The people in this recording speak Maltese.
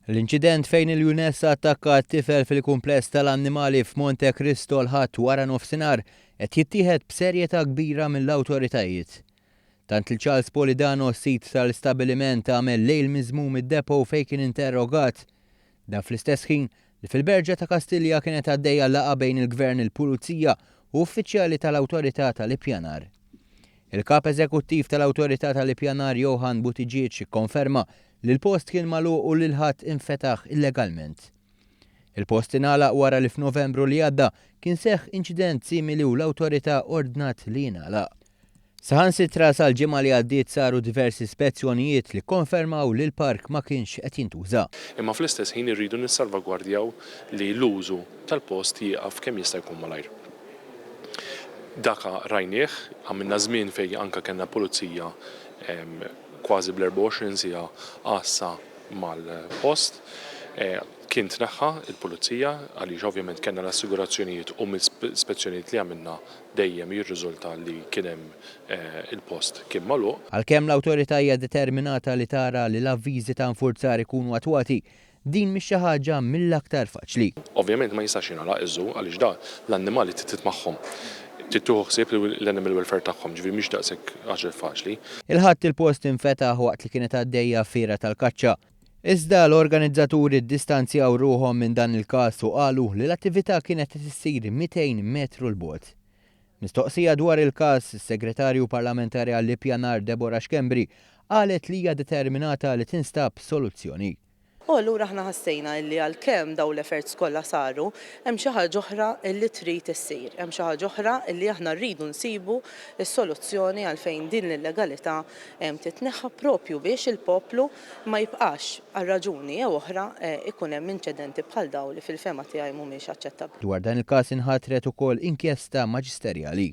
L-inċident fejn il-Junessa attakkat tifel fil-kumpless tal-annimali f'Monte Cristo l-Ħadd wara nofsinhar qed jittieħed b'serjetà kbira mill-awtoritajiet. Tant li Charles Polidano, sid tal-istabbiliment għamel lejl miżmum id-depot fejn kien interrogat. Dan fl-istess ħin li fil-Berġa ta' Kastilja kienet għaddejja laqgħa bejn il-Gvern il-Pulizija u uffiċjali tal-Awtorità tal-Ippjanar. Il-Kap Eżekuttiv tal-Awtorità tal-Ippjanar Johann Buttigieg ikkonferma li l-post kien magħluq u li l-ħatt infetaħ illegalment. Il-post ingħalaq wara li f'Novembru li għadda kien seħħ inċident simili u l-Awtorità ordnat li jingħalaq. Saħansitra sal-ġimgħa li għaddiet saru diversi spezzjonijiet li kkonfermaw li l-park ma kienx qed jintuża. Imma fl-istess ħin irridu nissalvagwardjaw li l-użu tal-post jieqaf kemm jista' jkun malajr. Daka rajnieh, għamilna żmien fejn anke kellna pulizija kważi bl-24 siegħa għassa mal-post. Kien tneħħa l-pulizija għaliex ovvjament kellna l-assigurazzjonijiet u mill-spezzjonijiet li għamilna dejjem jirriżulta li kien hemm il-post kien magħluq. Għalkemm l-Awtorità hija determinata li tara li l-avviżi ta' infurzar ikunu attwati, Din mhix xi ħaġa mill-aktar faċli. Ovvjament ma jistax jingħalaq iż-żoo għaliex da l-annimali trid titmagħhom. Trid tieħu ħsieb l-animal welfare tagħhom, ġifieri mhix daqshekk ħaġa faċli. Il-Ħadd il-post infetaħ waqt li kienet għaddejja fiera tal-kaċċa. Iżda l-organizzaturi ddistanzjaw ruħhom minn dan il-każ u qalu li l-attività kienet qed issir 200 metru 'l bogħod. Mistoqsija dwar il-każ, is-Segretarju Parlamentari għall-Ippjanar Deborah Schembri qalet li hija determinata li tinstab soluzzjoni. U allura aħna ħassejna illi għalkemm dawn l-efforts kollha saru, hemm xi ħaġa oħra illi trid issir. Hemm xi ħaġa oħra illi aħna rridu nsibu s-soluzzjoni għalfejn din l-illegalità titneħħa proprju biex il-poplu ma jibqax, għal raġuni jew oħra, ikun hemm inċedenti bħal dawn li fil-fehma tiegħi mhumiex aċċettabbli. Dwar dan il-każ inħatret ukoll inkjesta maġisterjali.